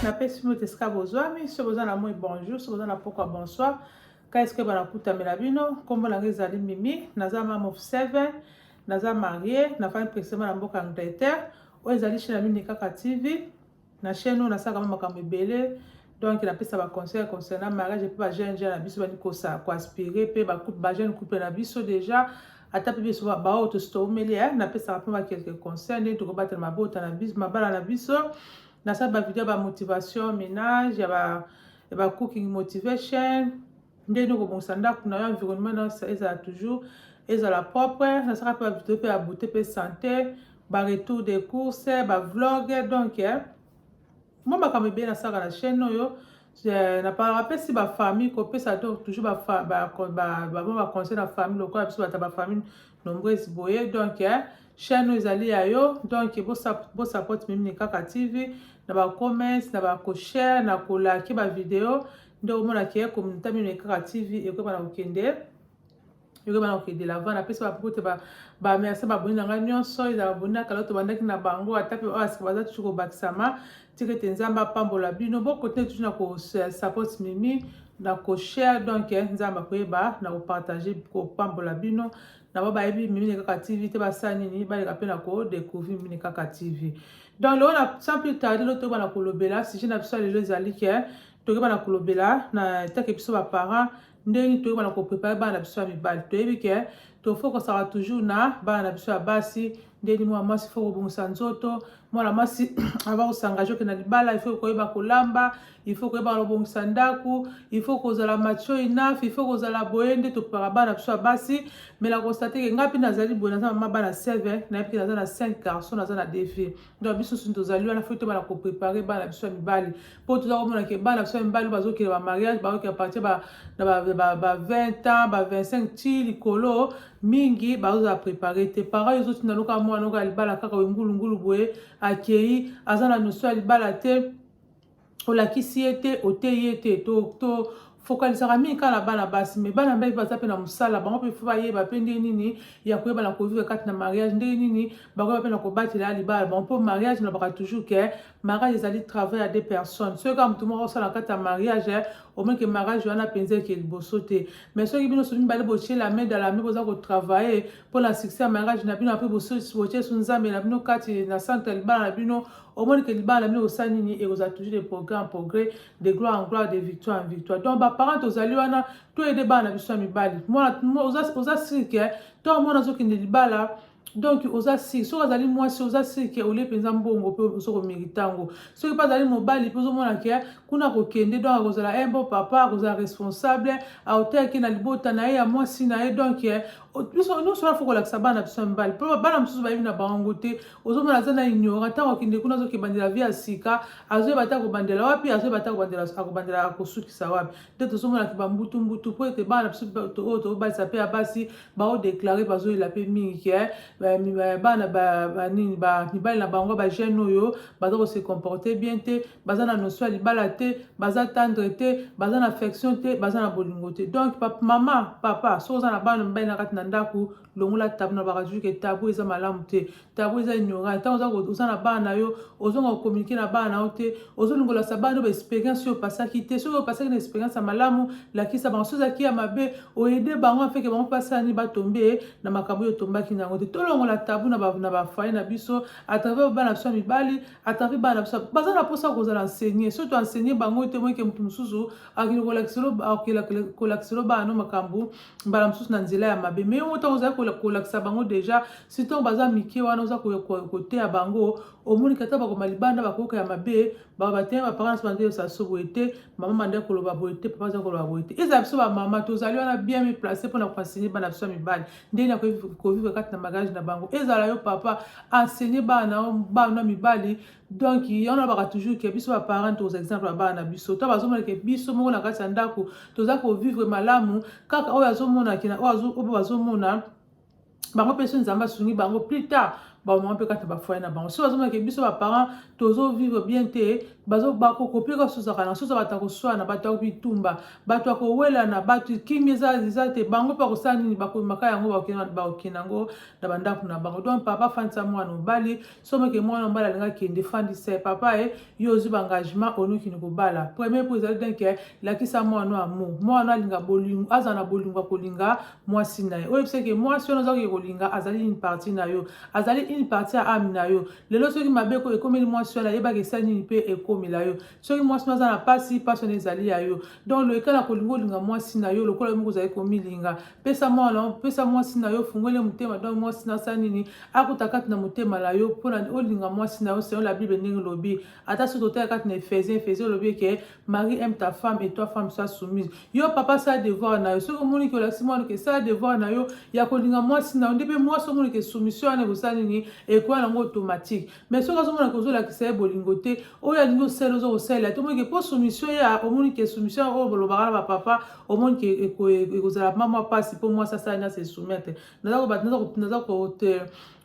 napesi mbote esika bozwami soki boza na moi bonjour soki boza na pokwa bonsoir ka esike banakutamela bino nkombo na ngai ezali mimi naza mam of seven naza marie nafandi presema na mboka angleterre oyo ezali chine ya mini kaka tv Na chaîne oyo nasalaka mwa makambo ebele donc napesa ba conseil concernant mariage mpe ba jeune jeune na biso bandi kosa ko aspire mpe ba couple ba jeune couple na biso déjà ata mpe biso baoyo tositoumeli eh, napesaka mpe ba quelques conseils ndenge tokobatela mabota na biso mabala na biso nasala ba video ya ba motivation ménage ya ba ya ba cooking motivation ndenge nini okobongisa ndako na yo environnement na ezala toujours ezala propre nasaka mpe bavideo mpe ya beauté mpe santé baretour de course bavloge donc eh, mwa makambo ebele nasaka na chaîne oyo eh, napesi bafamille kopesa to toujours bamwa baconseil na famille lokola biso bata bafamille nombreuse boye donc eh, chaîne oyo ezali ya yo donc bosapote mimi ni kaka tv na bacommerce na bacoshare na kolaki bavideo ba nde omona ke communauté mino ekaka tv ekoyeba na kokende ekoyeba na kokende lava napesi bapuku te bamerce baboni na ngai nyonso ezala baboni na kala tobandaki na bango ata mpe oyo asika baza tutu kobakisama tika ete nzambe apambola bino bokontine tutu na kosapot mimi na koshare donc eh, nzambe akoyeba na kopartage kopambola bino na ba bayebi mimine kaka tv te basala nini baleka mpe na kodecouvrir mimine kaka tv donc lelo na sans plus tarde lotoyeba na kolobela sujet na biso ya lelo ezali ke toyeba na kolobela na take biso ba parents ndenge nini toyeba na ko préparer bana na biso ya mibali toyebi ke tofokosaka toujours na bana na biso ya basi ndeni mwana mwasi fo kobongisa nzoto mwana mwasi ava kosangaje okenda libala ifo koyeba kolamba ifo koyeba kobongisa ndako ifo kozala mature enough ifo kozala boye nde topaka bana biso ya basi me na konstate ke ngai mpe nazali boye naza mama bana 7 nayebi ke naza na 5 garçon naza na defi donc biso soki tozali wana fo tobana koprepare bana biso ya mibali mpo toza komona ke bana biso ya mibali bazokende bamariage bayoki apartir ba 20 ans ba 25 ti likolo mingi bazozala prepare te parent ezotinda noka mwana oka libala kaka oyo ngulungulu boye akei aza na notion ya libala te olakisi ye te oteyi ye te to, to fokalisaka mingi kaka na bana basi me bana mibali baza mpe na mosala bango mpe fo bayeba mpe ndenge nini ya koyeba na kovivre kati na mariage ndenge nini bakoyeba mpe na kobatela libala bango mpo mariage nalobaka toujours ke mariage ezali travail ya deux personnes soki kaka motu moko osala kati ya mariage omeke mariage wana mpenza eke liboso te mais soki bino so mibale botie la main dans la main boza kotravaille mpo na succès ya mariage na bino apres botie so nzambe na bino kati na centre ya libala na bino omoni ke libala na bino kosala nini ekozala toujours de progrès en progrès de gloire en gloire de victoire en victoire donc baparent tozali wana toyede bana na biso ya mibali oza siri ke ntango mwana azokende libala donc oza siri soki azali mwasi oza siri ke olie mpenza mbongo mpe ozo komerite yango soki mpe azali mobali mpe ozomona ke kuna kokende donc akozala un bon papa akozala responsable aoteyaki na libota na ye ya mwasi na ye donc biso nyonso wana fo kolakisa bana biso ya mibali mpo bana mosusu bayebi na bango te ozomona aza na ignora ntango akende kuna azokebandela vie ya sika azoyeba te akobandela wapi azoyeba te akobandela akosukisa wapi nde tozomonaki bambutumbutu mpo ete bana biso oyo tokobalisa mpe ya basi baodeklare bazoyela mpe mingi ke eh, eh, bana nini mibali na bango bagene oyo baza kose comporte bien te baza na notion ya libala te baza tendre te baza na affection te baza na bolingo te donc papa, mama papa soki oza na bana mibali na kati na ndako longola tabu na bakazui ke tabu eza malamu te tabu eza ignorant ntango oza na bana na yo ozonga kokomunike na bana na yo te ozolingolasa bana yo baexperience oyo opasaki te soki opasaki na experience ya malamu lakisa bango soki ezalaki ya mabe oyede bango afeke bango mpasani batombe na makambo oyo otombaki na yango te tolongola tabu na bafaye na biso atravers bana biso ya mibali atari bana biso baza na mposa kozala enseigner soki toenseigner bango te moyeke moto mosusu akende kolakiselo bana no makambo mbala mosusu na nzela ya mabe mai yango ntango ozali kolakisa bango deja si ntango baza mike wana oza koteya bango omoni kata bakoma libanda bakoyoka ya mabe babateye baparents bande yosaso boye te mama manda koloba boye te papa aza koloba boye te ezala biso bamama tozali wana bien miplace mpona koenseigner bana biso ya mibali ndenge na kovivre kati na mariage na bango ezala yo papa enseigner bana na bana na mibali donc yango nalobaka toujours ke biso baparent toza exemple ya bana na biso to bazomonake biso moko na kati ya ndako toza kovivre malamu kaka oyo azomonake na oyo bazomona bango mpe so nzambe asungi bango plus tard bamama mpe kati na bafoye na bango soki bazomake biso baparent tozovivre bien te bakokopi kosozaka na soza bato ya koswana bato ya bitumba bato ya kowelana bato kimi eza te bango mpe bakosala nini bakomaka yango bakokende yango na bandako na bango donc papa fandisa mwana mobali someke mwana mobali alinga kende fandisa papa e yo ozwi baengagement olingi kini kobala premier po ezali bien ke lakisa mwana oyo amour mwana alinga bolingo azala na bolingo ya kolinga mwasi na ye oyo ebisa ke mwasi wana ozaki kolinga azali une partie na yo azali une partie ya ame na yo lelo soki mabe ko ekomeli mwasi wana yebaka esali nini mpe ekomela yo soki mwasi wana aza na mpasi mpasi wana ezali ya yo donc loyekala kolinga olinga mwasi na yo lokola yo moko ozali komilinga pesa mwana pesa mwasi na yo ofungoli motema donc mwasi nasala nini akuta kati na motema na yo mpona olinga mwasi na yo selon la bible ndenge elobi ata soki totala kati na ephesien ephesien olobi eke marie aime ta femme et toi femme soit soumise yo papa sala devoir na yo soki omoni ke olakisi mwana ke sala devoir na yo ya kolinga mwasi na yo nde mpe mwasi omoni ke soumission wana ekosala nini ekoya nango automatique mais soki azomona ke ozolakisa ye bolingo te oyo alingi osala oza kosalela te omoni ke mpo soumission ya omoni ke soumission oyo bolobaka na bapapa omoni ke ekozala mwa mwa mpasi mpo mwasi asala nyonso esoumettre naza kote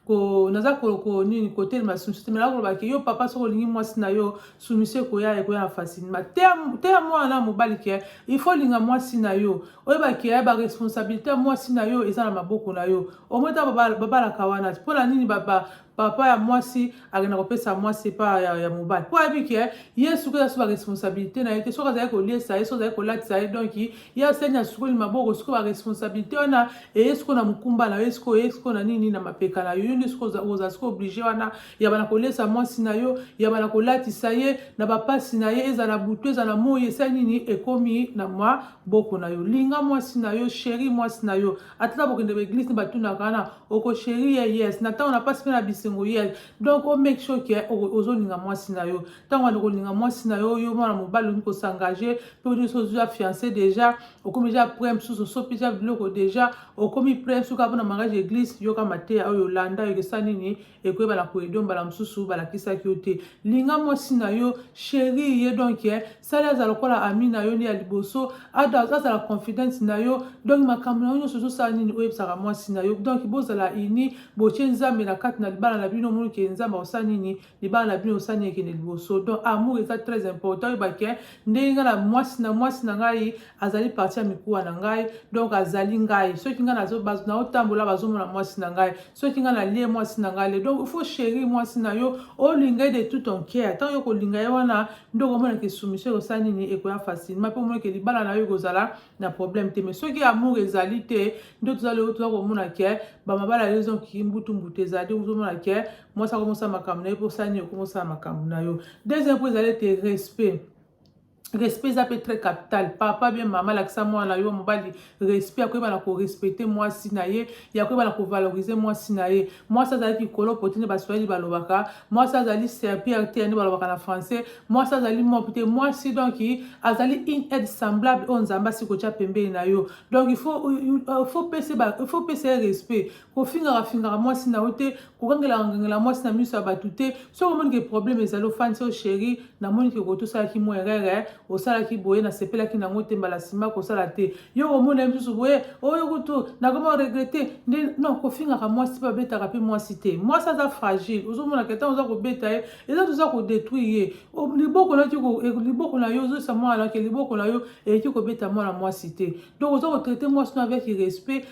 ko naza ko nini kotelema soumission te mela koloba ke yo papa soki olingi mwasi na yo soumission ekoya ekoya na facilement teya mwana na mobali ke il faut olinga mwasi na yo oyeba ke ya baresponsabilité ya mwasi na yo eza na maboko na yo omoi ntango babalaka wana mpo na nini papa ya mwasi akenda kopesa mwasi epa ya, ya mobali mpo ayebi ke ye suki aza so baresponsabilité na ye te soki azali koliesa ye soki azali kolatisa ye donk ye aseni asukoli maboko soki baresponsabilité wana eye siko na mokumba na yo siko eye siko na nini na mapeka na yo yo nde siko oza siko oblige wana yaba na koliesa mwasi na yo yaba na kolatisa ye na bapasi na ye ezala butu ezala moi esali nini ekomi na mwa boko na yo linga mwasi na yo sheri mwasi na yo ata na bokende ba eglise ba tuna kana oko chérie ya yes na tango na pasi pe na bisengo yes donc o make sure que ozo linga mwasi na yo tango wana kolinga mwasi na yo yo mwana mobali olingi ko s'engager pe olingi so ozwa fiancé déjà okomi déjà près mosusu osopi déjà biloko déjà okomi près mosusu kaka pona mariage église yoka mateya oyo landa yokesa nini ekoyebana koyedo mbala mosusu balakisaki yo te linga mwasi na yo sheri ye donk eh, sali azala lokola ami na yo nde ya liboso azala confidente na yo donk makambo na yo nyonso ozosala nini oyebisaka mwasi na yo donk bozala ini botie nzambe na kati na libala na bino omoni ke nzambe akosala nini libala na bino osala nini ekende liboso donk amour eza très important oyebake eh, ndenge ngai na mwasi na mwasi na ngai azali parti ya mikuwa na ngai donc azali ngai soki ngai naotambola bazomona mwasi na ngai soki ngai nalie mwasi na ngai le donc il faut chéri mwasi na yo olinga ye de tout ton cœur ntango yo kolinga ye wana nde okomona ke soumission ekosala nini ekoya facilement mpe omona ke libala na yo ekozala na problème te mais soki amour ezali te nde toza lelo toza komona ke bamabala yo ezonki mbutu mbutu ezali ozomona ke mwasi akomi osala makambo na ye mpo osala nini okomi osala makambo na yo deuxième mpo ezali ete respect respect eza mpe très capital papa bien mama alakisa mwana na yo mobali respect ya koyeba na korespecte mwasi na ye ya koyeba na kovalorize mwasi na ye mwasi azali likolo poti nde baswahili balobaka mwasi azali serpir te nde balobaka na français mwasi azali mopi te mwasi donc azali une aide semblable oyo nzambe asi kotya pembeni na yo donc il faut pesa ye respect kofingaka fingaka mwasi na yo te kokangela kangela mwasi na miso ya bato te soki omoni ke problème ezali ofandisi oyo sheri namoni ke koto osalaki mwa erere osalaki boye nasepelaki nango te mbala nsima kosala te yo omoni na misusu boye oyo kutu nakoma oregrete nde non kofingaka mwasi mpe abetaka mpe mwasi te mwasi aza fragile ozomonaka ntango oza kobeta ye eza toza kodetruire ye liboko naki e, liboko na yo ozoyisa mwana nake liboko na yo eleki kobeta mwana mwasi te donc oza kotraite mwasi no avec respect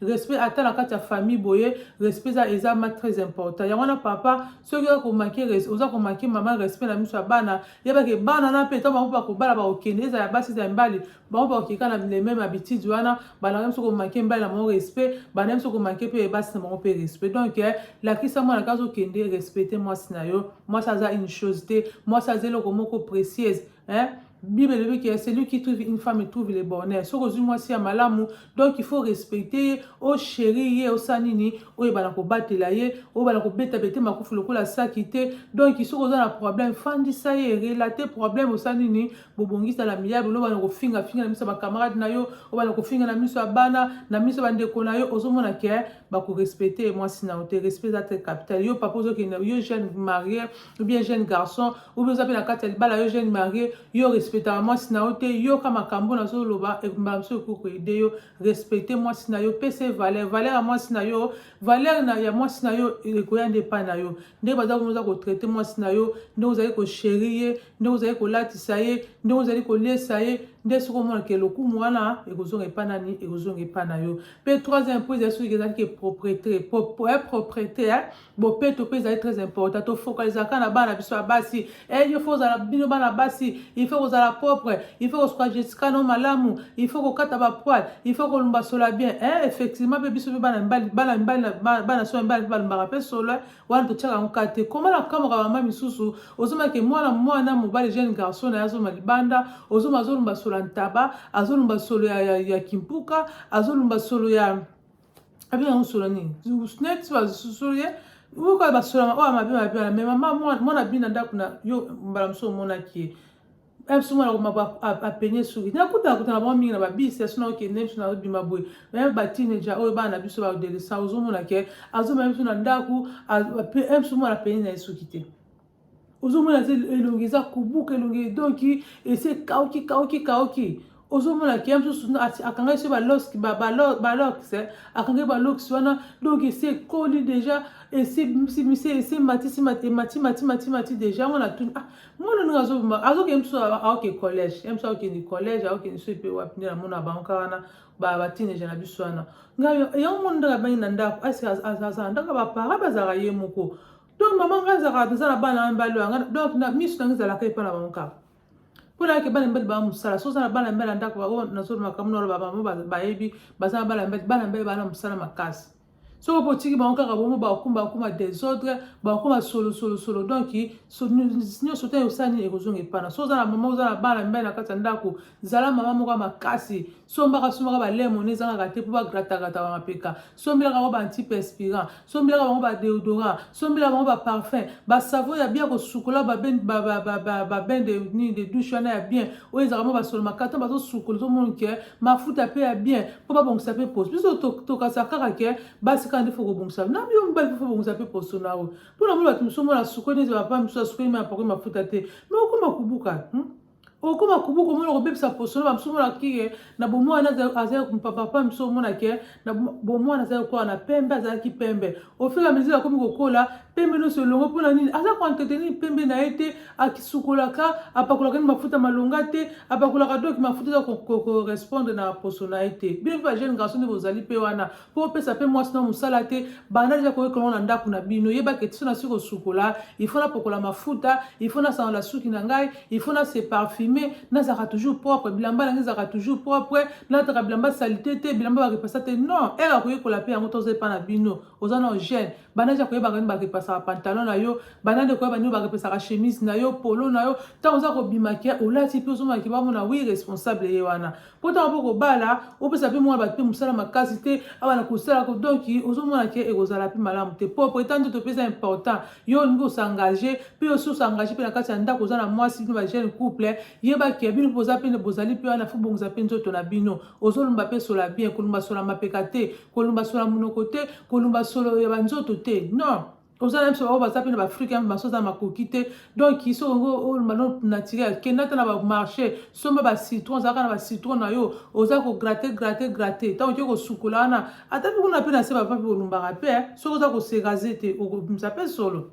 respect ata na kati ya famille boye respect eza eza ma très important yango wana papa soki oza komake oza komake mama respect na miso ya bana yebake bana na mpe ntango bango bakobala bakokende ezala basi ezala mibali bango bakokeka na le meme habitude wana bandaka biso komake mibali na bango respect bandaka biso komake mpe basi na bango mpe respect donc eh, lakisa mwana kaza okende respecte mwasi na yo mwasi aza une chose te mwasi aza eloko moko précieuse hein? bible elobi ke celui qui trouve une femme trouve le bonheur soki ozwi mwasi ya malamu donc il faut respecte ye ochérir ye osala nini oyebana kobatela ye oyebana kobeta bete makufu lokola saki te donc soki oza na problème fandisa ye relate problème osala nini bobongisa na miyable olobana kofinga finga na miso ya bacamarade na yo obana kofinga na miso ya bana na miso ya bandeko na yo ozomona ke bakorespecte ye mwasi na yo te respect eza te capital yo papa ozokende yo jeune marie ou bien jeune garçon ou bien oza mpe na kati ya libala yo jeune marie yo respectaka mwasi na yo te yoka makambo nazoloba e, mbala mosusu ekoki koede yo respecte mwasi na yo pesa ye valeur valeur ya mwasi na yo valeur na, ya mwasi na yo ekoya nde epai na yo ndenge baza kuna oza kotraite mwasi na yo ndenge ozali kosheri ye ndenge ozali kolatisa ye ndenge ozali koliesa ye nde soki omona ke lokumu wana ekozonga epai nani ekozonga epai na yo mpe troisième mpo ezali soki ezalaki propriété propriété bopeto mpe ezali très important tofokalizaka na bana biso ya basi e il faut ozala bino bana basi il faut kozala propre il faut kosuka jessica no malamu il faut kokata bapoile il faut kolumba sola bien e effectivement mpe biso mpe bana mibali bana mibali bana so mibali mpe balumbaka mpe sola wana totyaka yango kaka te koma na kamwaka mama misusu ozomake mwana mwana mobali jeune garçon na ye azoma libanda ozoma azolumba sola ntaba azolumba solo ya, ya, ya kimpuka azolumba solo ya abi na musolo nini neti basusulu ye uka basolama oyo mabe mabe wana me mama mwana bini na ndako na yo mbala mosusu omonaki ye biso mwana komaba apenye soki nakutana kutana bango mingi na babisi ya sona okende biso na bima boye meme batineja oyo bana na biso badelesa ozomona ke azomema biso na ndako biso mwana apenye na ye soki te ozomona eza elongi eza kobuka elongi edonki esi ekauki kauki kauki ozomona ke ya mosusu akangaki so baloks eh, akangaki baloks wana donc esi ekoli deja esimatisimatimatimati deja yango natuni ah, mwana ndenge azobima azokende mosusu aoke collège ya mosusu aokende collège aokende so epe wapi nde namona bango kaka wana batineja na biso wana ngai yango mwana ndenge abangi na ndako asi azala ndako ya bapara bazalaka ye moko donc mama ngai ezalaka toza na bana ya mibali oyo donc na miso nange ezalaka epa na bango kaka mpo nayake bana mibali baa mosala so oza na bana mibali ya ndako oyo nazolo makambo na oloba bamo bayebi baza na bana mibali bana mibali baa na mosala makasi soki mpo otiki bango kaka bomo bakoma bakoma desordre bakoma solosolosolo donc nyonso te osala nini ekozonga epana so oza na mama oza na bana mibali na kati ya ndako zala mama moko ya makasi sombaka sombaka balemon ezangaka te mpo bagratakata bamapeka sombelaka bango baantiperspirant sombelaka bango badeodorant sombela bango baparfum basavo ya bien kosukola babende nini de douche wana ya bien oyo ezalaka mwa basolo makata bazosukola ozomona ke mafuta mpe ya bien mpo babongisa mpe poso biso tokasa kaka ke basi kaka nde fo kobongisa na yo mobali mpe fo bongisa mpe poso na yo mpo na mona bato mosusu omona asukoli neti bapaa mosusu asukoli mai apakoli mafuta te me okoma kobuka hmm? okoma kubu komona kobebisa poso na bamosusu omona kike na bomwana aza papa mosusu omona ke na bomwana aza lokola na pembe azalaki pembe ofila mesure akomi kokola pembe nyonso elongo mpo na nini aza koentretenir pembe na ye te akisukolaka apakolaka ni mafuta malonga te apakolaka doki mafuta eza korespondre na poso na ye te bino mpe bajeune garçon nde bozali mpe wana mpo opesa mpe mwasi na mosala te banda deja koyekana ngo na ndako na bino yebaka etiso na si kosukola ifo napokola mafuta ifo nasanola suki na ngai ifo na se parfume nazalaka toujours propre bilamba na ngai ezalaka toujours propre nalataka bilamba salite te bilamba bakepasa te non ere akoyekola mpe yango toza epa na bino oza na gene banda deja koyebaka nini bakepasaka pantalon na yo banda nde koyeba nini bakepesaka chemise na yo polo na yo ntango oza kobima ke olati mpe ozomaki bamona wi responsable ye wana mpo ntango mpo kobala opesa mpe mwa bato mpe mosala makasi te awa na kosala donki ozomona ke ekozala mpe malamu te mpo pourtant ndoto mpe eza important yo olingi osengage mpe osi osengage mpe na kati ya ndako oza na mwasi mpe bajeune couple yeba ke bino mpe boza mpe bozali mpe wana fo bongisa mpe nzoto na bino ozolumba mpe sola bien kolumba sola mapeka te kolumba sola monoko te kolumba solo ya banzoto te non oza na biso baoyo baza mpe na baafrika ya maso aza makoki te donc soki oyo mano naturel kenda ata na bamarché somba bacitron ozalaka na bacitron na yo oza kograte grate grate ntango oke kosukola wana ata mpe kuna mpe na se bapa mpe olumbaka mpe eh, soki oza koserase te okobimisa mpe solo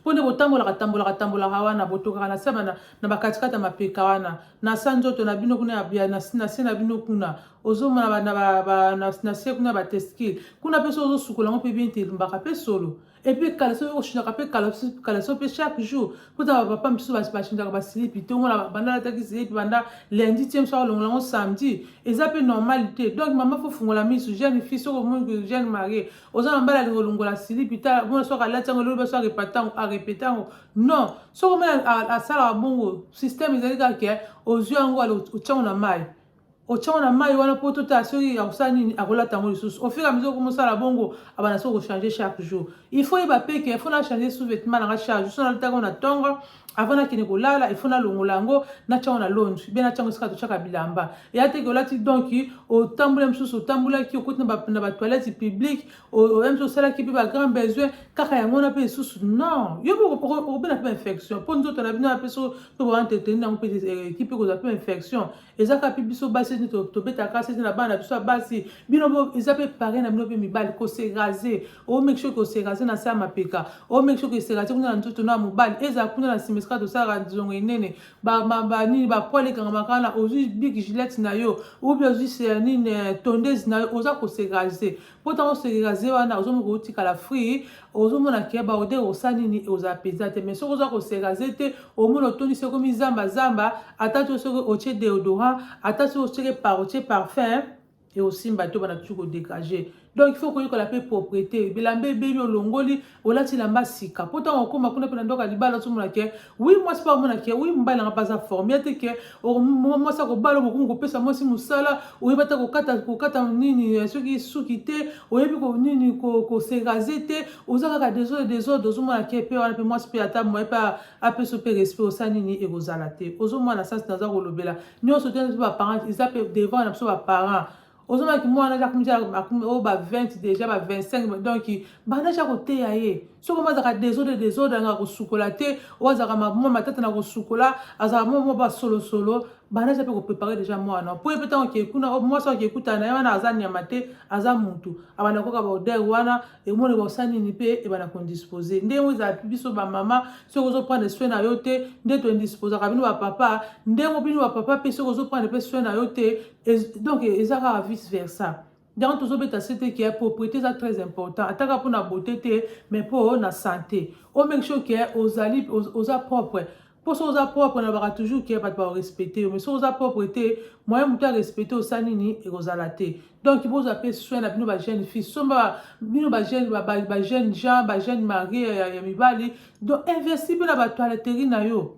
mpo nde botambolaka tambolaka tambolaka wana botokaka na se na bakatikati ya mapeka wana na sa nzoto na bino kuna na se na bino kuna ozomona ba, na, ba, ba, na, na se kuna batestikile kuna mpe soki ozosukola yango mpe bien te elumbaka mpe solo epuis kala soki oshindaka mpe kala so mpe chaque jour kuta bapapa misusu bashindaka basilipi to ngo banda alataki silipi banda lundi tie mosu akolongola yango samedi eza mpe normal te donc mama fo fungola misu jeune fille soki omoni jeune marie oza na mbala alingi olongola silipi ta mona soki alati yango elobi baso arepete yango non soki omoni asalaka bongo système ezali kaka ke ozwi yango otyango na mai otiango na mayi wana po totala soki akosala nini akolata yango lisusu ofira ya mesure okomosala bongo abanda soki kochange chaque jour il faut yeba pe ke il faut nachange sous vêtement nanga charge so nalataka na tongo avant nakende kolala il faut nalongola yango natiango na longe be natiango esika totiaka bilamba eya teke olati donc otambula mosusu otambulaki okoti na batoilette publique oya mosusu osalaki mpe bagrand besoin kaka yango wana mpe lisusu non yo okobela mpe infection mpo nzoto na bino ya mpe so mpe boentreteni yango mpe ekipe ekozwa mpe infection eza kaka mpe biso basi nde tobetaka kasi ete na bana na biso ya basi bino eza mpe pare na bino mpe mibali koserase omeki soki koserase na se ya mapeka omeki soki koserase kuna na nzoto na mobali ezala kuna na nsima esika tosalaka nzongo enene banini bapoil ekangamaka na ozwi big gilete na yo obi ozwi nini eh, tondese na yo oza koserase mpo ntango osekeka ze wana ozo moka otikala free ozomona ke baode osala nini ozala mpenza te mais soki oza koseka ze te omona otondisi ekomi zamba zamba ata to soki otie deodorant ata soki otieke par otie parfum ekosimba te obana tuki kodegage donc il faut koyekola mpe propriété bilamba ebebi olongoli olati lamba sika mpo ntango okoma kuna mpe na ndoka libala ozomona ke wi mwasi mpe amona ke wi mobali nanga mpe aza forme ya te ke mwasi akobala okokomi kopesa mwasi mosala oyebi ata kokata kokata nini eh, soki suki te oyebi nini koserase te oza kaka desordre desordre ozomona ke mpe wana mpe mwasi mpe ata moye mpe apesa mpe respect osala nini ekozala te ozomona sasi naza kolobela nyonso te mpe baparent eza mpe devant na biso baparent ozomaki mwana aja kumisa oyo ba 20 deja ba 25 donc banda aja koteya ye soki omo azalaka desode desode angaka kosukola te oyo azalaka mwa matata na kosukola azalaka mwa mwa basolosolo banda aja mpe koprepare deja mwana mpo ye mpe ntango okei kuna mwasi okei kutana na ye wana aza nyama te aza mutu abanda koyoka baodere wana emoni baosa nini mpe ebanda kondispose ndenge oyo ezala biso bamama soki ozoprendre soin na yo te nde toindisposaka bino bapapa ndenge bino bapapa mpe soki ozoprendre mpe soin na yo te donc eza kaka vice versa yango tozobeta sete ke propriété eza très important ataka mpo na beauté te mais mpo na santé o make sure ke ozali oza propre mpo soki oza propre nalobaka toujours ke bato baorespecte yo mais soki oza propre te moyen moto arespecte osa nini ekozala te donc bozwa mpe soin na bino bajeune fille somba bino bajeune bajeune jean bajeune marie ya mibali donc investi mpe na batoileterie na yo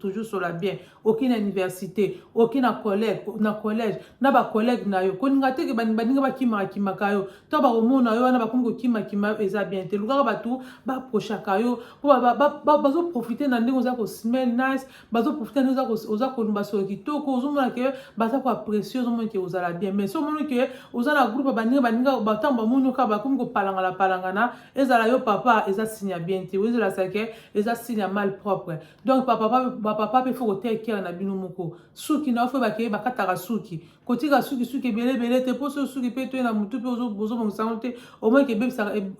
toujours sur la bien aucune université aucune collègue na collège na ba collègue na yo kolinga te ke baninga bakimaka kimaka yo to bakomona yo wana bakomi kokima kima yo eza bien te lukaka bato baprochaka yo mpo bazoprofite na ndenge oza kosmell nice bazoprofite na ndenge oza kolumba solo kitoko ozomona ke baza koapresie ozomona ke ozala bien mais so omoni ke oza na groupe baninga baninga batango bamoni yo kaka bakomi kopalangana palangana ezala yo papa eza signe ya bien te ozela seke eza signe ya mal propre donc bapapa mpe fo koteya kere na bino moko suki na yo fo bakeye bakataka suki kotika suki suki ebele ebele te mpo soki suki mpe toye na motu mpe ozobongisa yango te omonike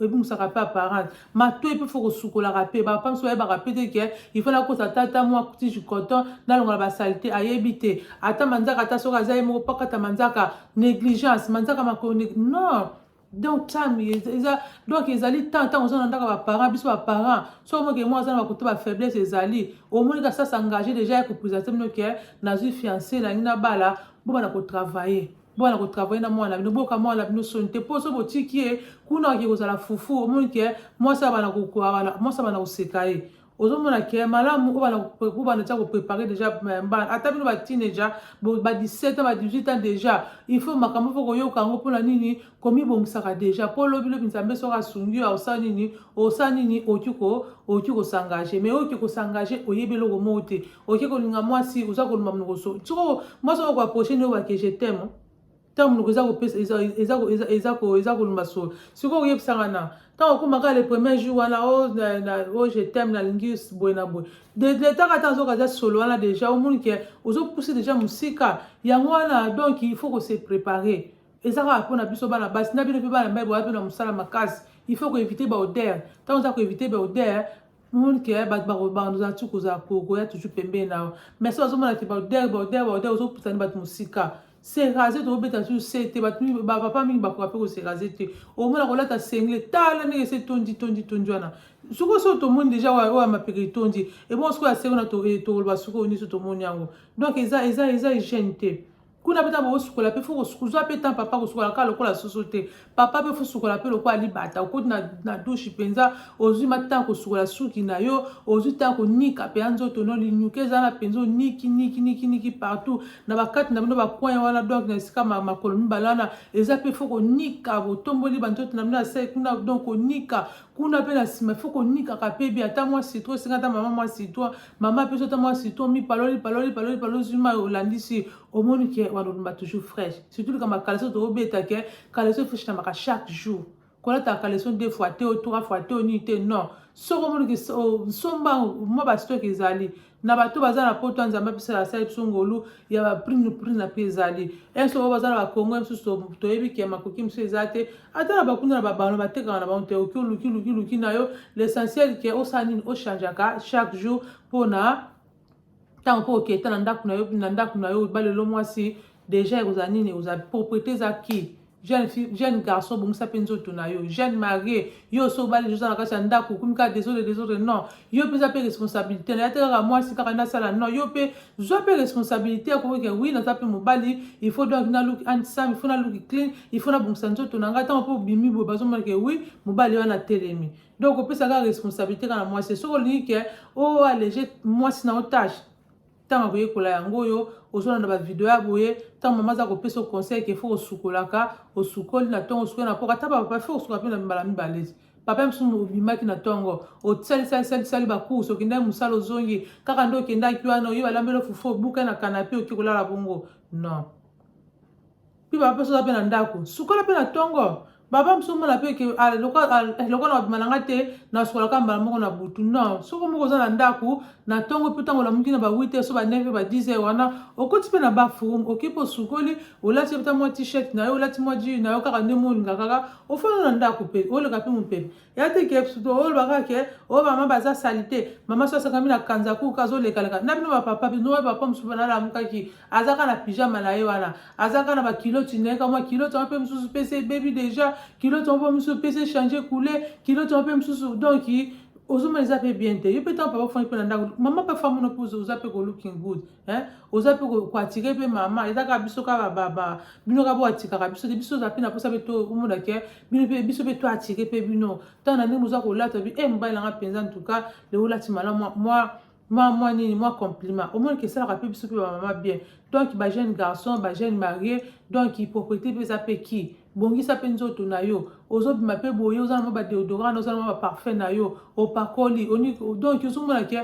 ebungisaka mpe apparence matoi mpe fo kosukolaka mpe bapapa mosusu bayebaka mpe te ke ifo nakosa tata mwa tige coton nalongola basalite ayebi te ata manzaka ata soki aza ye moko pakata manzaka négligence manzaka makoni non donc time eza donc ezali temps ntango oza na ndako ya baparent biso baparent so omoke mwa aza na bakuta bafaiblesse ezali omoni ka sasa engage déjà ya kopresente bino ke nazwi fiance nangi na bala bobana kotravaille bobana kotravaille na mwana na bino boyoka mwana na bino soni te mpo so botiki ye kuna oke kozala fufu omoni ke mwasi abana koseka ye ozomona ke malamu oyo bana tia koprepare déjà eh, mbana ata bino bateenager ba 17 ans ba 18 ans déjà il faut makambo fo koyoka yango mpona nini komibongisaka déjà mpo lobilobi nzambe soki asungi yo osala nini osala nini oki ko oki kosengage mais oki kosengage oyebi eloko moko te oki kolinga mwasi oza koloba monokoso soko mwasi oyo koaproche nde obake je teme ntango monoko eza kopesa eza kolumba solo sikoyo oyebisa nga na ntango okoma kaka le premier jour wana o oh, oh, je teme nalingi boye na boye detaka ata azoka aza solo wana déjà omoni ke ozopuse déjà mosika yango wana donc il faut kose préparer eza kaka mpo na biso bana basi na bino mpe bana mibali boya mpe na mosala makasi il faut koevite baodere ntango oza koevite baodere omoni ke eh, bato bakozala tu koya toujours pembeni na yo mais so bazomona te baodere baodere baodere ozopusani bato mosika se raser tokobeta su se te bato mingi bapapa mingi bakoka mpe kose raser te omona kolata sengle tala ndenge ese tondi tondi tondi wana soko so tomoni deja oyo ya mapeka etondi ebongo soko ya sengo na eh, tokoloba soko oyo nyonso tomoni yango donc eza eza eza hygiène te kuna mpe ntango osukola mpe fo kozwa mpe temps papa kosukola kaka lokola soso te papa mpe fosukola mpe lokola libata okoti na, na dushe mpenza ozwi matata kosukola suki na yo ozwi ntango konika mpenza nzoto no linyuka eza na mpenza oniki niki niki niki partout na bakati na bino bakoin wana donc na esika makolo mibale wana eza mpe fo konika botomboli banzoto na bino asai kuna donc konika kuna mpe na nsima fo konikaka mpe bi ata mwa citro esenga ata mama mwa citro mama apesi ata mwa citro mipaloli paloli paloli paloli zwi mai olandisi omoni ke walolumba toujours fraîche surtout likambo ya kaleso tobeta ke kaleso efreshinamaka chaque jour kolataka kaleso deux fois te o trois fois te o nini te non soki omoni ke nsomba mwa bastoke ezali na bato baza na poto ya nzambe apesa asali biso ngolu ya baprime prime na mpe ezali ese oyo baza na bakongo ya mosusu toyebi ke makoki mosusu eza te ata na bakunda na babano batekaka na bango te oki oluki luki luki na yo l'essentiel ke osala nini ochangeaka chaque jour mpona ntango mpo oketa na ndako na yo na ndako na yo ba lelo mwasi deja ekozala nini oza propriété eza ki jeune fille jeune garçon bongisa mpe nzoto na yo jeune marie yo oso obali oza na kati ya ndako okomi kaka desole desole non yo mpe eza mpe responsabilité na ya te kaka mwasi kaka nasala non yo mpe zwa mpe responsabilité ya koyoka wi naza mpe mobali il faut donc naluki handsome il faut naluki clean il faut nabongisa nzoto na ngai ntango mpe obimi boye bazomonake wi mobali wana atelemi donc opesa kaka responsabilité kaka na mwasi soki olingi ke o oh, allege mwasi na otage ntango akoyekola yango oyo ozolanda bavideo ya boye ntango mama aza kopesa conseil ke fo osukolaka osukoli na ntongo osukoli na mpoka ata bapapa fo osuka mpe na mbala mibale papa mosusu obimaki na ntongo osalisalisalisali bakurse okendaki mosala ozongi kaka nde okendaki wana oye balambeli ofufu obukai na kanape oki kolala bongo non mpe baba mpe soza mpe na ndako sukola mpe na ntongo baba mosusu omona mpe ke ah, eh, lokola babima na nga te nasukolaka mbala moko na butu non soko moko oza na ndako na ntongo mpe ntango olamuki na ba 8 heures so ba 9 heures ba 10 heures wana okoti mpe na baforum oki mpe osukoli olati mpe mwa t-shirt na yo olati mwa jus na yo kaka nde molinga kaka ofanda na ndako mpe oleka mpe mopepe ya te ke oloba kaka ke oyo mama baza salite mama so asakami na kanza kuka azolekaleka na bino bapapa bino oyo papa mosusu bana alamukaki aza kaka na pijama na ye wana aza kaka na bakiloti na ye kamwa kiloti yango mpe mosusu mpe se ebebi deja kiloti yango mpe mosusu mpe se change coule kiloti yango mpe mosusu donc ozomona eza mpe bien te yo mpe ntango papa ofandi mpe na ndako mama mpe afamono mpe oza mpe ko looking good eh? oza mpe koatire mpe mama eza kaka biso kaka baba bino kaka boatikaka biso te biso oza mpe na mposa mpe tomona ke bino mpe biso mpe toatire mpe bino ntango na ndenge moza kolata bi e eh, mobali nanga mpenza ntuka lelo olati malamu mwa mwa mwa nini mwa compliment omoni ke esalaka mpe biso mpe bamama bien donc bajeune garçon bajeune marie donc propriété mpe eza mpe ki bongisa mpe nzoto na yo ozobima mpe boye oza na mwa badeodorant oza na mwa baparfum na yo opakoli donc ozomona ke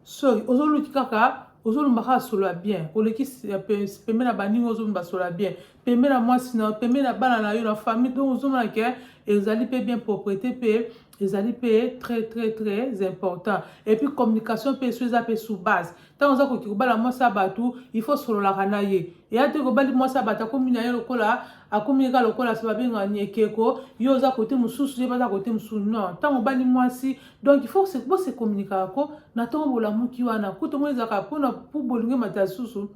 Soy ozoluki kaka ozolumba kaka solo ya bien oleki pembe na baninga ozolumba solo ya bien pembe na mwasi na pembe na bana na yo na famille donc ozomona ke ezali mpe bien propreté mpe ezali mpe très très très important et puis communication mpe so eza mpe sous base ntango oza koki kobala mwasi ya bato il faut sololaka na ye eya te kobali mwasi ya bato akomi na ye lokola akomi ye kaka lokola se babengaka niekeko yo oza kote mosusu ye baza kote mosusu non ntango obali mwasi donc il faut se bo se communiquer ko na tongo bolamuki wana kutu ngo ezaka pona po bolingi mata susu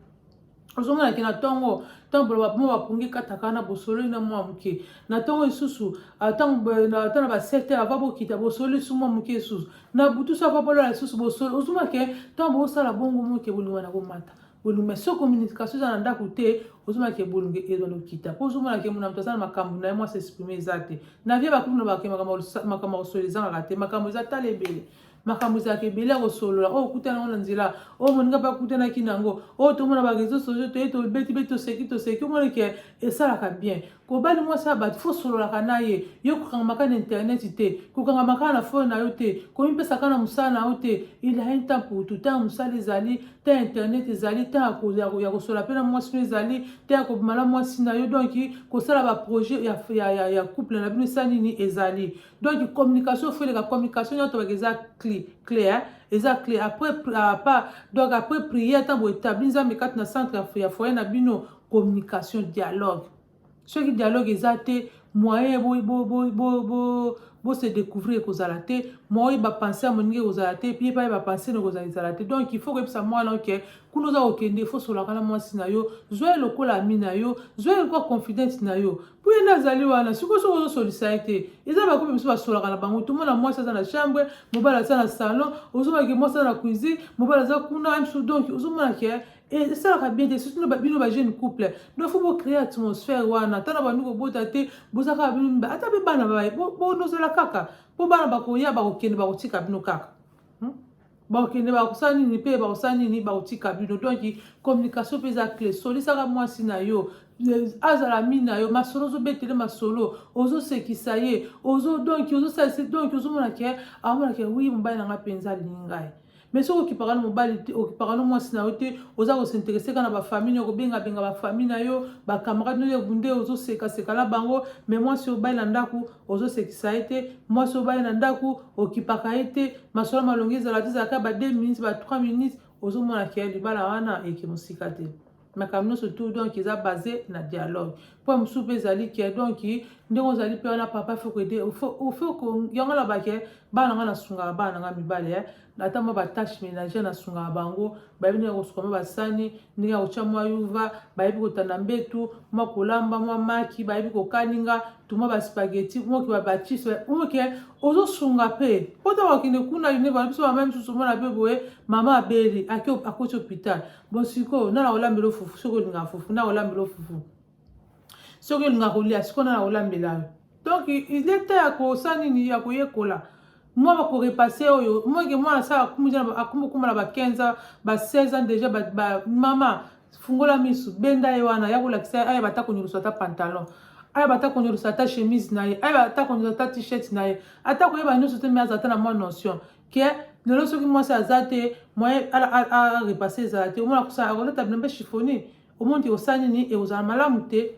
ozomona ke na ntongo ntango boloba mo bapungi kataka na bosololi na mwa moke na ntongo lisusu ntango ata na ba 7 heure ava bokita bosololi su mwa moke lisusu na butu so ava bolola lisusu bosololi ozomona ke ntango bosala bongo moke bolingo na komata bolunge mais soki communication eza na ndako te ozomona ke bolunge ezwa lokita mpo ozomona ke mona moto aza na makambo na ye mwasi exprime eza te na vie bakutu na bake makambo ya kosolo ezangaka te makambo eza tala ebele makambo ezalaka ebele ya kosolola oyo oh, okutana yango na nzela oyo oh, moninga mpe akutanaki na yango oyo oh, tomona bareseau sociaux toye tobetibeti toseki toseki omoni ke esalaka bien kobali mwasi ya bato fo sololaka na ye yo kokangamaka na internet te kokangamaka na fone na yo te komipesaka na mosala na yo te il a un temps pour tout temps ya mosala ezali temps ya internet ezali temps ya kosola mpe na mwasi no ezali temps ya kobima na mwasi na yo donc kosala baprojet ya, ya, ya, ya couple na bino esa nini ezali donc communication fo eleka communication nyonso tobaka eza clé clé hein? eza clé après apa donc après prière ntango etabli nzambe kati na centre ya foyer na bino communication dialogue soki dialogue eza te moyen bo, bo, bo, bo, bo, bo se découvrir ekozala te moyen bapense ya moninga ekozala te mpe epai bapense na ekozala ezala te donc il faut koyebisa mwana oke kuna oza kokende fo solaka na mwasi na yo zwa ye lokola ami na yo zwa ye lokola confidente na yo mpo ye nde azali wana sikoyo soki ozosolisa ye te eza bakomi biso basolaka na bango tomona mwasi aza na chambre mobali aza na salon ozomona ke mwasi aza na cuisine mobali aza kuna donc ozomona ke Eh, esalaka bien te surtout bino ba jeune couple donc faut bocree atmosphère wana ata na bandi kobota te boza kaka bino mibale ata mpe bana bonozala kaka mpo bana bakoya bakokende bakotika bino kaka hmm? bakokende bakosala nini mpe bakosala nini bakotika bino donc communication mpe eza cle solisaka mwasi na yo azala mi na yo masolo ozobetele masolo ozosekisa ye ozo donki ozosalisa donki ozomona ke amonake wi mobali na ngai mpenza alingi ngai mais soki okipaka na mobali te okipaka na mwasi na yo te oza kosinterese kaka na bafamille nayo kobengabenga bafamille na yo bacamarade no ebunde ozosekaseka na bango mais mwasi obali na ndako ozosekisa ye te mwasi obali na ndako okipaka ye te masolo malongi ezala te ezalaka ba 2 minutes ba 3 minutes ozomona ke libala wana eke mosika te makambo nyonso tout donc eza base na dialogue mpo ya mosusu mpe ezali ke donc ndenge ozali mpe wana papa fo koede ofo yango alobaka ke bana ngai nasungaka bana na ngai mibale eh. ata mwa batache ménagère nasungaka bango bayebi ndenge kosuka mwa basani ndenge ya kotya mwa yuva bayebi kotanda mbetu mwa kolamba mwa maki bayebi kokalinga tumwa baspageti moke babachise moke ozosunga mpe mpo ntango akende kuna yuneva biso mama misusu omona mpe boye mama abeli akoti hôpital bon sikoyo nana kolambela yo fufu soki olingaka fufu nana kolambela yo fufu soki olingaka kolia sikoyo nana kolambela yo donc il est temps ya kosala nini ya koyekola mwa bakorepase oyo moke mwana asala akumokuma na ba 15 ans ba 16 ans déjà ba, ba, mama fungola misu benda ye wana ya kolakisa ye ayeba ata konyolusa ata pantalon ayeba ata konyolusa ata chemise na ye ayeba ata konyolusa ata t-shirt na ye ata koyeba nyonso te me aza ata na mwa notion ke lelo soki mwasi aza te moyen arepasse ezala te omona kosala akolata bilembe chiffoni omoni te osala nini ekozala malamu te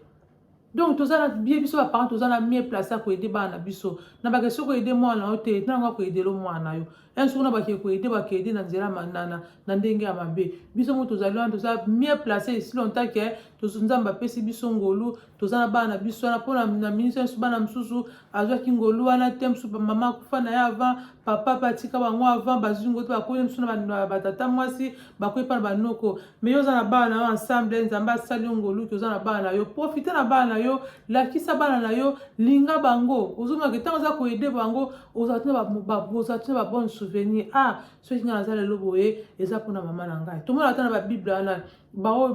donc toza na bie biso baparent toza na mie place ya koede bana na biso na bake soki oede mwana yo te ntango akoedelo mwana yo un soki na bake koede bakeede na nzela manana na ndenge ya mabe biso mo tozali wana toza mie place esi longtemps ke nzambe apesi biso ngolu toza na bana na biso wana mpona na minisi ya biso bana mosusu azwaki ngolu wana te mosusu mama akufa na ye avant papa mpe atika bango avant bazwi ngolu te bakoyi mosusu na batata mwasi bakoyi mpa na banoko mai oza na bana na yo ensemble nzambe asali yo ngoluki oza na bana na yo profite na bana na yo lakisa bana na yo linga bango ozomake ntango oza koyede bango ozalaki na babone souvenir a ah, soki ngai naza lelo boye eza mpona mama na ngai tomona ata na babible wana baoyo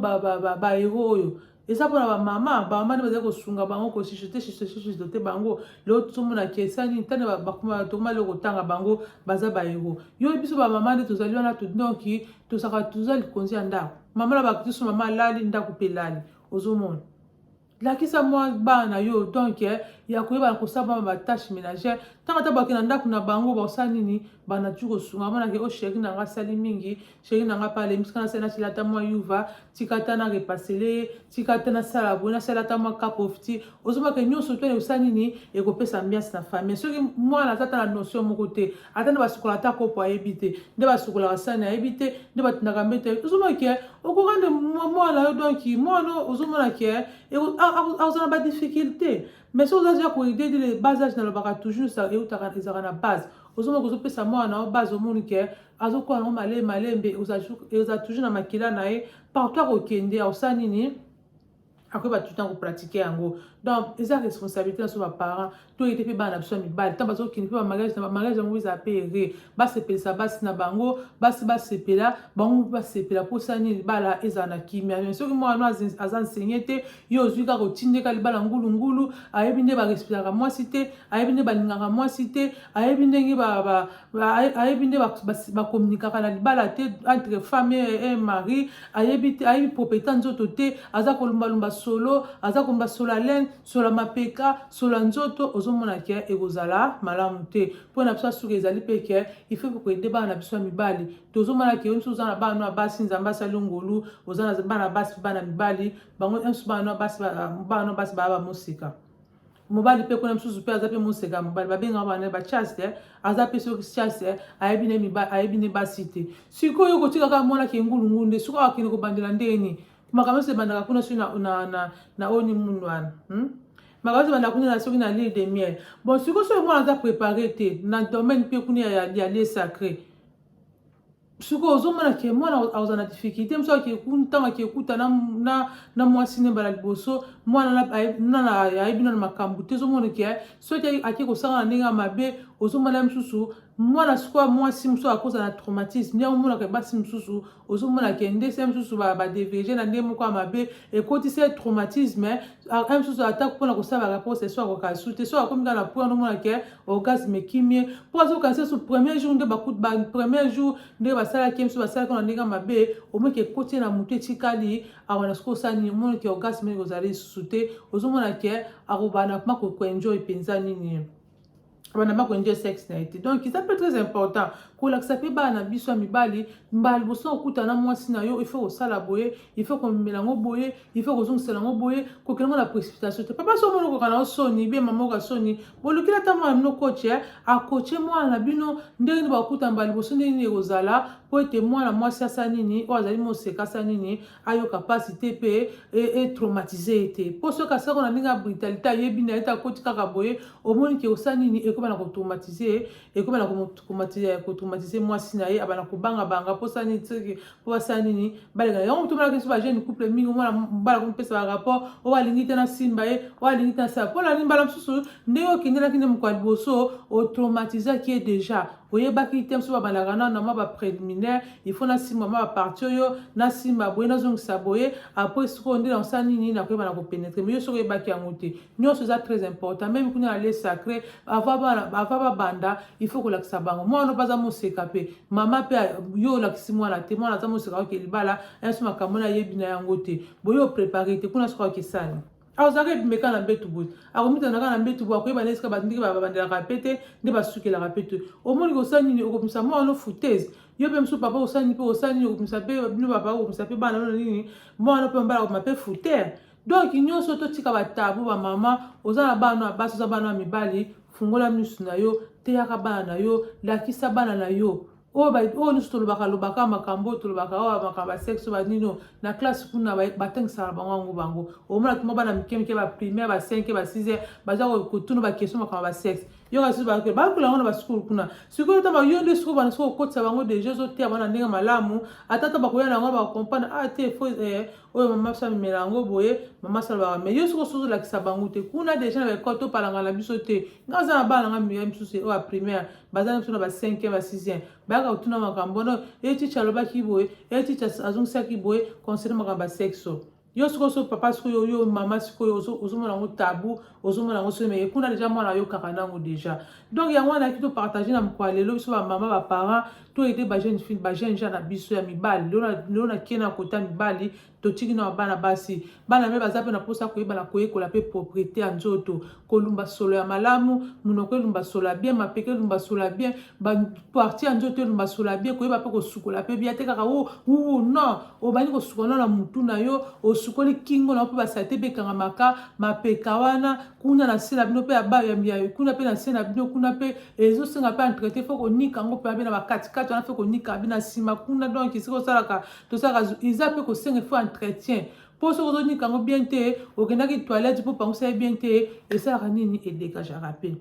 baero oyo eza mpona bamama bamama nde bazali kosunga bango kosisote sisote bango leo tozomona kesa nini ntani tokoma leo kotanga bango baza baero yo biso bamama nde tozali wana donki tozaka toza likonzi ya ndako mama na bakristo mama alali ndako mpe elali ozomona lakisa mwa bana na yo donk eh, ya koyeba kosala mama batashe ménagère ntango ata bakenda ndako na bango basala nini bana tu kosunga monake o oh, sheri na ngai asali mingi sheri na nga pale mosika nasali nasala ata mwa yuva tika ata na repasele ye tika ata nasala boye nasala ata mwa kapofti ozomaka nyonso to ekosala nini ekopesa ambiance na famille soki mwana aza ata na notion moko te ata nde basukola ata kopo ayebi te nde basukolaka sani ayebi te nde batindaka mbeto ayebi ozomaka ke okoka nde mwana yo donk mwana ozomona ke akozala na badifficulté mais soki ozazi ya koide de bas age nalobaka toujours eutaka ezalaka na base ozomaka ozopesa mwana na yo base omoni ke azokola yango malembe malembe oza toujours na makila na ye partout akokende akosala nini akoyeba tout ntango pratique yango donc eza responsabilité na biso baparent toyete mpe bana na biso ya mibali ntango bazokende mpe bamariage na bamariage yango eza mpe ere basepelisa basi na bango basi basepela bango mpe basepela mposa nini libala ezala na kimia me soki mwana aza nsenge te ye ozwi kaka otindeka libala ngulungulu ayebi nde barespiraka mwasi te ayebi nde balingaka mwasi te ayebi ndenge ayebi nde bakominikaka na libala te entre femme e mari ayebi te ayebi propriété ya nzoto te aza kolumbalumba solo aza kolumba sola laine sola mapeka sola nzoto ozomona ke ekozala malamu te mpo na biso asuka ezali mpe ke il faut koyede bana na biso ya mibali tozomona ke yo nso oza na bana ya basi nzambe asali ngolu oza na bana basi bana mibali bango nso bana basi bana basi baya bamosika mobali mpe kuna mosusu mpe aza mpe moseka mobali babenga bana ba chaste eh. aza mpe soki chaste eh. ayebi ne miba ayebi ne basi te sikoyo kotika kaka mwana kengulungulu nde sikoyo akende kobandela ndenge nini makambo nyonso ebandaka kuna soki na, na, na, na oyo ni mundu wana hmm? makambo nyonso ebandaka kuna na soki na lile de miel bon sikoyo soki mwana aza prépare te na domaine mpe kuna ya, ya, ya lie sacré sikoyo ozomona ke mwana aza na difficulté mosu ntango akekuta na mwasi nde mbala liboso mwana ayebi nano makambo te ozomona ke soki ake kosanga na ndenge ya mabe ozomona ye mosusu mwana sikoyo mwasi mosusu akoza na traumatisme yango omonaka basi mosusu ozomona ke ndese mosusu badevirge na ndenge moko ya mabe ekotisi ye traumatisme ye mosusu ata mpona kosala bareponse so akoka esu te so akomi kaka na po yango omona ke orgasme ekimi ye mpo azokanisa esu premier jour nde bakut ba premier jour nde basalaki ye mosusu basalaki ona ndenge mabe omoni ke ekoti ye na motu etikali awa na soki osala nini omoni ke orgasme nini kozali lisusu te ozomona ke akobana kuma koenjoy mpenza nini bana bako enjoy sex na ye te donc eza mpe très important kolakisa mpe bana na biso ya mibali mbala liboso okutana na mwasi na yo ifaut kosala boye ifaut komemela yango boye ifaut kozongisela yango boye kokela yango na précipitation te papa so omoni okoka na yo soni bie mama oka soni bolukila ata mwana bino koche eh. akoche mwana na bino ndenge nini bakuta mbala liboso ndenge nini ekozala mpo ete mwana mwasi asa nini oyo azali moseka asa nini ayoka mpasi te mpe etraumatise e ye te mpo soki asako na ndenge ya brutalité ayebi na ye te akoti kaka boye omoni ke osa nini ekomi na kotraumatise ye ekomi na kotraumatise mwasi na ye abana kobangabanga mpo sa nini soki mpo basala nini baleka yango moto omonaki biso bajeune couple mingi omona mbala komipesa barapport oyo alingi te nasimba ye oyo alingi te nasala mpo na nini mbala mosusu ndenge okendelaki nde mokolo ya liboso otraumatisaki ye déjà oyebaki te mosusu babandaka nano na mwa bapreliminaire il faut nasimba mwa baparti oyo nasimba boye nazongisa boye apres sikoyo nde nakosala nini nakoyeba na kopenetre mais yo soki oyebaki yango te nyonso eza très important meme kuna na le sacré ava babanda il faut kolakisa bango mwana mpe aza moseka mpe mama mpe yo olakisi mwana te mwana aza moseka oke libala yanso makambo na ayebi na yango te boye oprepare te kuna soki akesani azalaka ebimeka na mbetu boye akomitanaka na mbetu boye akoyeba na esika bandiki babandelaka pe te nde basukelaka pe te omoni kosala nini okobimisa mwa wano foutese yo mpe mosusu papa osani mpe osani okomisa mpe bino papa okomisa mpe bana bino nini mwana mpe mobala akoma mpe foutere donk nyonso totika batabu bamama oza na bana basi oza bana ya mibali fungola misu na yo teyaka bana na yo lakisa bana na yo oyo oyo nyonso tolobaka lobaka makambo oyo tolobaka oyo makambo ya sexe banino na classe kuna batangisaka bango yango bango omona tuma bana mike mike ba primaire ba 5 ba 6 baza kotuna ba question makambo ya sexe yo kasi bayoka bakola yango na basukulu kuna sikoyo ta yo nde sikoyo bana sikoyo okotisa bango deja ozoteya bana ndenge malamu ata ta bakoya na yango bakompane a ah, te fo eh, oyo mama biso amemela yango boye mama salobaka me yo sikoyo sozolakisa bango te kuna deja na baekole topalanga na biso te nga aza na bana nga mia misusu oyo ya primaire baza na biso na ba 5e ba 6e bayaka kotuna makambo wana ye ticha alobaki boye ye ticha azongisaki boye concerne makambo ya sexo yo sikoyo so papa sikoyo yo mama sikoyo ozomona yango tabu ozomona yango soki meye kuna deja mwana ayokaka nango deja donc yango wana yaki topartage na mokwa lelo biso bamama baparent toyede bajeune fille bajeune gens na biso ya mibali lelo nakie na kota mibali totiki na bana basi bana me baza mpe na mposa koyeba na koyekola mpe propriete ya nzoto kolumba solo ya malamu monoko elumba solo ya bien mapeka elumba solo ya bien baparti ya nzoto elumba solo ya bien koyeba mpe kosukola mpe bia te kaka u u non obandi kosukola no na motu na yo osukoli kingo na yo mpe basalite mpe ekangamaka mapeka wana kuna na se na bino mpe kuna mpe na se na bino kuna mpe ezosenga mpe entrete fo konika yango mpe abe na bakatikati wana mpe konika abe na nsima kuna donk esika osalaka tosaka eza mpe kosenga ifo entretien mpo soki ozonika yango bien te okendaki toilette mpo pangusa ye bien te esalaka nini edegajaka mpe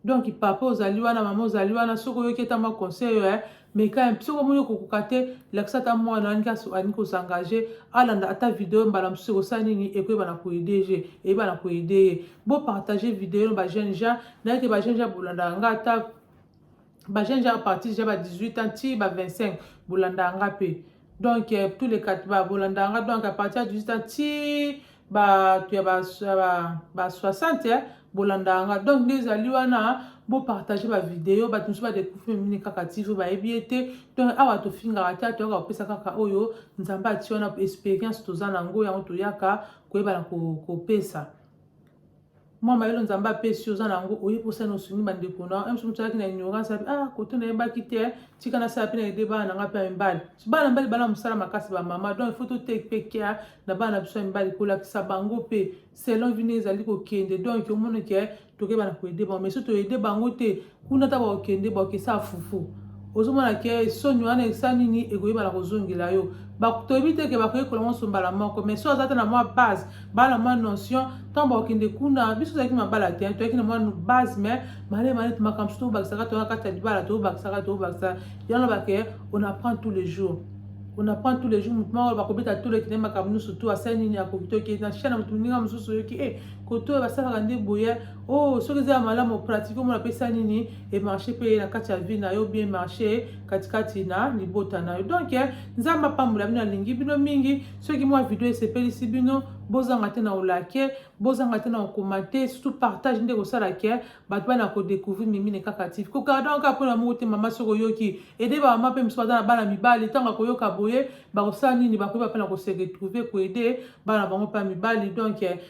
donc papa ozali wana mama ozali wana soki oyoki ata mwa conseil eh, meka soki omoni okokoka te lakisa ata mwana alingi alingi kozengage alanda ata video mbala mosusu ekosala nini ekoyeba na koede je eyeba na koede ye bopartage video na bajeune jean nayeke bajeune jean bolandaka nga ata ba jeune gens à partir déjà ba 18 ans ti ba 25 bolanda nga pe donc euh, tous les quatre ba bolanda nga donc à partir ya 18 ans ti ba tu ba ba, ba 60 hein, bolanda nga donc nde ezali wana bopartage bavideo bato mosusu badekufi mimini kaka tv bayebi ye te to awa tofingaka te toyaka kopesa kaka oyo nzambe ati wana experience toza na yango yango toyaka koyebana kopesa ko mwa mayele nzambe apesi oza na yango oyebi osani osungi bandeko na yo mso mosalaki na ignorance api ah kote nayebaki te eh, tika nasala mpe na ede bana na ngai mpe ya mibali so bana mibali bana mosala makasi bamama donc ifo toteki mpe kea na bana na biso ya mibali kolakisa bango mpe selon vine ezali kokende donc omoneke eh, tokeba na koede bango mais so toede bango te kuna ta bakokende bakokesa fufu ozomona ke soni wana esa nini ekoyebana kozongela yo toyebi te ke bakoyekola nyonso mbala moko mais so aza te na mwa base baa na mwa notion ntango bakokende kuna biso tozalaki mabala te toyaki na mwa base mais male male makambo so tobakisaka toya kati ya libala tobakisaka tobakisa yango bake on apprend tous les jours on apprend tous les jours motu moko bakobeta tolo ekende makambo nyonso to asali nini akoki to ekei na chaine motu moninga mosusu oyoki e kotoyo basalaka nde boye oh soki eza ya malamu pratique omona apesa nini emarche mpe na kati ya vie na yo bien marche katikati na libota na yo donc eh, nzambe apambola bino alingi bino mingi soki mwa video esepelisi bino bozanga te na olake bozanga te na okomate surtout partage nde kosala ke eh, bato bana kodécouvrir mimine kaka tiv kokardaka kaka mpona moko te mama soki oyoki ede bamama mpe mosusu baza na bana mibali ntango akoyoka boye bakosala nini bakoyeba mpe na kose retrouve koede bana bango mpe ya mibali donc eh,